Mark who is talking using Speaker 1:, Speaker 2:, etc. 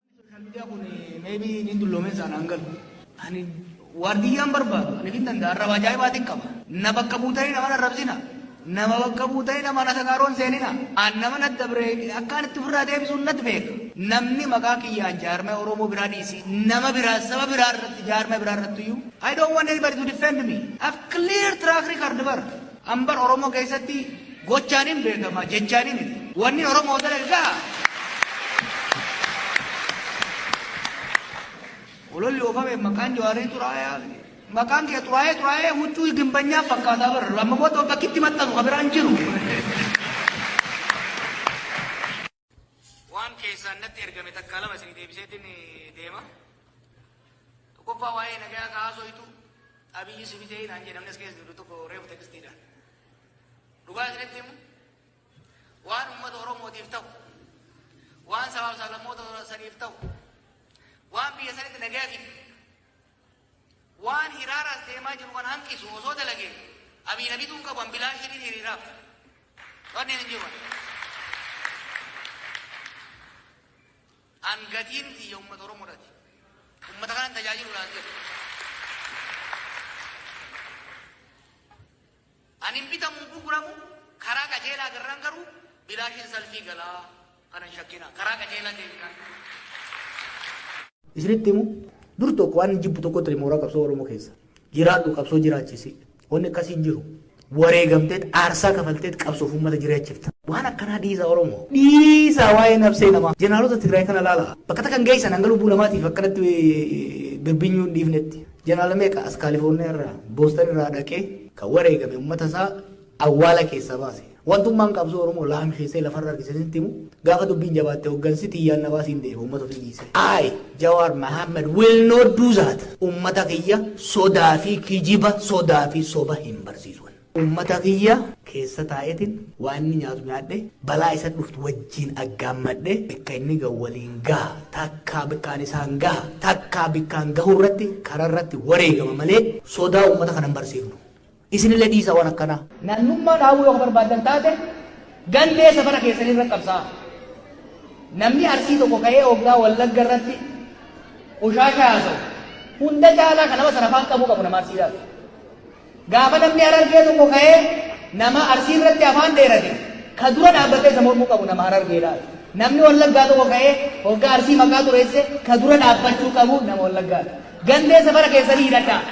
Speaker 1: Social media kun maybe niin dulloomeen saan aan galu. Ani waardiyyaan barbaadu ani hin danda'a arraba ajaa'ibaatiin qaba. Na bakka buutanii nama arrabsina. Nama bakka buutanii nama na sagaaroon seenina. Aan nama na dabre akkaan itti ofirraa deebisuun natti beeka. Namni maqaa kiyyaan jaarmee Oromoo biraa dhiisi. Nama biraa saba biraa irratti jaarmee biraa irratti iyyuu. I don't want anybody to defend me. I've clear track record bar. Hanbar Oromoo keessatti gochaan hin beekama jechaan hin wanni Oromoo dalage gaha. Ololli oofame maqaan Jawaarii xuraayaa maqaan kee xuraayee xuraayee huccuu gimbanyaa fakkaataa bara lammamoota bakkitti maxxanu kan biraan jiru. Waan keessaan natti ergame takkaa lama isinii deebiseetin deema. Tokkoffaa waa'ee nagayaa ka haasoytu Abiyyi si bitee naan jedhe namni as keessa jiru tokko reefu tekstiidhaan. Dhugaa isinitti himu waan uummata Oromootiif ta'u waan sabaaf sablammoota saniif ta'u waan biyya sanitti nagaya fidu Waan hiraara as deemaa jiru kana hanqisu osoo dalage Abiy na bituu hin qabu an bilaashii ni hiriiraaf. Wanneen hin jiru. An gatiin tiyya uummata Oromoodhaati. Uummata kanan tajaajiluudhaaf jedhu. Ani hin bitamu hin gurguramu, karaa qajeelaa agarraan garuu bilaashin salfii gala. Kana hin shakkinaa. Karaa qajeelaa deemnaan. Isinitti himu dur tokko waan jibbu tokko ture mooraa qabsoo Oromoo keessa. Jiraadhu qabsoo jiraachisi. Wanni akkasii hin jiru. Wareegamteet aarsaa kafalteet qabsoof uummata jiraachifta. Waan akkanaa dhiisaa Oromoo. Dhiisaa waa'ee nabsee namaa. Jeneraalota Tigraay kana ilaalaa. Bakka takka hin geessan hanga lubbuu namaatiif akkanatti birbinyuu hin dhiifnetti. Jeneraal meeqa as Kaalifoorniyaa irraa, Booston irraa dhaqee kan wareegame ummata isaa awwaala keessaa baase. Wantummaan qabsoo Oromoo laamsheessee lafarra harkise sitti himu gaafa dubbiin jabaatte hoggansi tiyyaan na baasiin deema ummata ofii dhiise. I, Jawaar Mohammed will not do that. Ummata kiyya sodaa fi kijiba, sodaa fi soba hin barsiisu ani. Ummata kiyya keessa taa'eetin waan inni nyaatu nyaadhe, balaa isa dhuftu wajjiin aggaammadhe, bikka inni gahu waliin gaha, takkaa bikkaan isaan gaha, takkaa bikkaan gahu irratti karaa irratti wareegama malee sodaa ummata kana hin barsiifnu. Isinillee dhiisaa waan akkanaa. Namnummaa dhaabuu yoo ka barbaaddan taate gandee safara keessanii irratti qabsaa'a. Namni Arsii tokko ka'ee hoggaa Wallagga irratti qushaashaa haasa'u hunda caalaa ka nama sana afaan qabuu qabu nama Arsiidhaati. Gaafa namni Harargee tokko ka'ee nama Arsii irratti afaan dheerate ka dura dhaabbatee isa mormuu qabu nama Harargeedhaati. Namni Wallaggaa tokko ka'ee hoggaa Arsii maqaa xureesse ka dura dhaabbachuu qabu nama Wallaggaati. Gandee safara keessanii hidhadhaa.